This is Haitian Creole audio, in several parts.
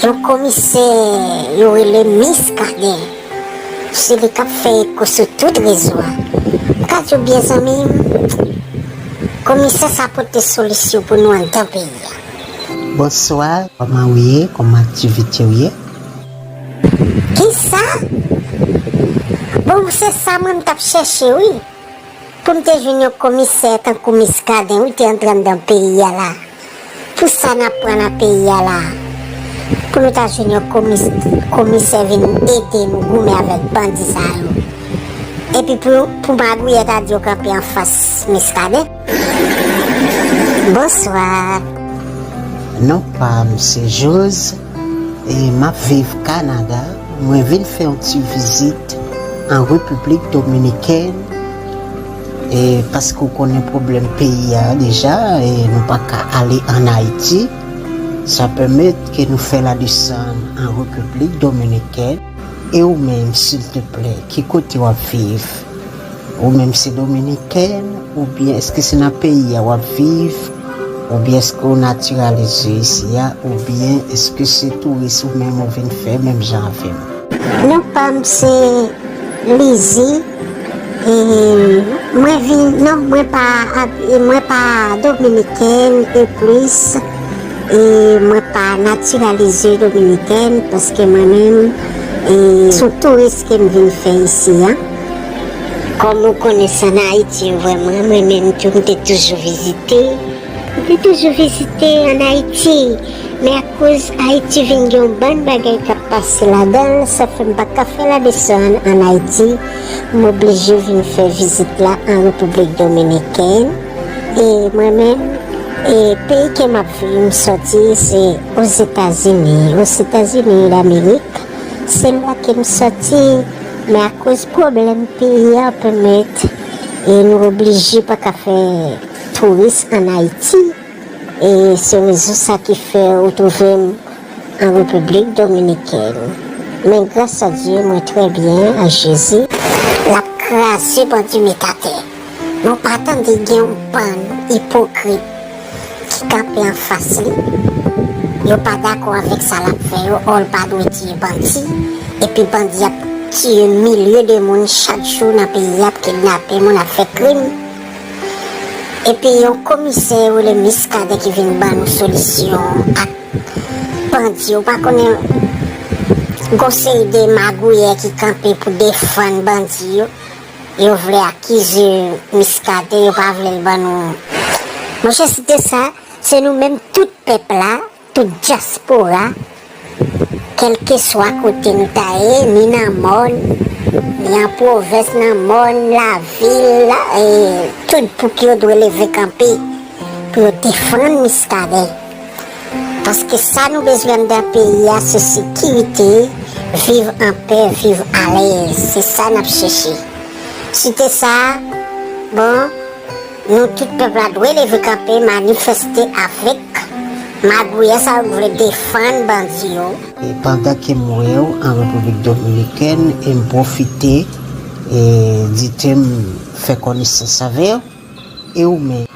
Yon komisè yo rele Miskaden, se li k ap fè eko sou tout rezo a. M ka di w byen zanmi m, komisè sa pote solisyon pou nou anndan peyi a. Bonswa, kòman ou ye? Kòman aktivite ou ye? Kisa? Bon, se sa mwen m t ap chèche wi. Poum te jwenn yon komisè tankou miskaden wi te antrann dan peyi a la pou sa nap pran nan peyi a la pou nou ta jwenn yon komisè vin ede nou goumen avèk bandi sa yo epi pou magouyè ta di yo kanpe anfas miskaden bonsoir. Non pam se jose. Map viv Canada, mwen vin fè yon ti vizit an République Dominicaine paske ou konnen pwoblèm peyi a deja e nou pa ka ale an Ayiti sa pèmèt ke nou fè la desann an République Dominicaine e ou menm silteplè ki kote wap viv Ou menm se dominiken ou byen eske se nan peyi a wap viv ou byen eske ou natiralize isi a ou byen eske se touris ou menm ou vin fè menm jan avèm. Non pam se Lizzy e mwen vin non mwen pa mwen pa dominikèn e plis e mwen pa natiralize dominikèn paske mwen menm e son touris kem vin fè isi a. Kòm ou konnen sa nan Ayiti yo vrèman mwen menm tou m te toujou vizite, m te toujou vizite an Ayiti men akoz Ayiti vin gen yon bann bagay k ap pase ladan l sa fè m pa t ka fè ladesann an Ayiti m oblije vin fè vizit la an Repiblik Dominikèn e mwen menm e peyi ke m ap viv m sòti se Ozetazini Osetazini Damerik. Se la ke m soti, men akoz pwoblèm peyi a anpe met, e nou oblije pa ka fè touris an Ayiti, e se rezon sa ki fè ou twouve m an Repiblik Dominikèn. Men gras a Dye mwen trè byen ak Jezi. Lap kraze bandi met atè. Nou pa tande gen yon bann ipokrit ki kanpe anfas li, yo pa dakò avèk sa lap fè yo, ò l pa dwe tiye bandi, epi bandi ap tiye milye de moun chak jou nan peyi a, ap kidnape moun, ap fè krim, epi yon komisè yo rele Miskaden ki vin ban nou solisyon ak bandi yo, ou pa konnen gon seri de magouyè ki kanpe pou defann bandi yo. Yo vle akize miskaden yo pa vlel ban nou monchè si te sa se nou menm tout pèp la tout dyaspora kelkeswa kote nou ta ye ni nan mòn ni an pwovens nan mòn lavil tout bouk yo dwe leve kanpe pou yo defann miskaden Paske sa nou bezwen anndan peyi a se sekirite, viv anpè, viv alèz. Se sa n ap chèche. Site sa a, bon, nou tout pèp la dwe leve kanpe, manifèste avèk magouyè sa yo k vle defann bandi yo. E pandan ke m wè w an Repiblik Dominikèn e m pwofite di ke m fè konesans avè w. E ou menm?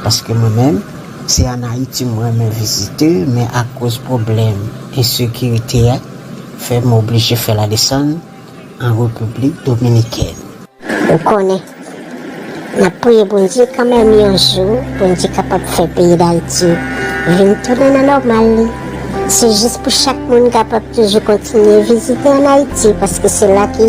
Paske mwen menm, se an Ayiti m renmen vizite, men akoz pwoblèm ensekirite a fè m oblije fè ladesann an Repiblik Dominikèn. Ou konnen, n ap priye Bondye kanmenm yon jou Bondye kapab fè peyi Dayiti vin tounen nan nòmal li. Se jis pou chak moun kapab toujou kontinye vizite an Ayiti paske se la ki.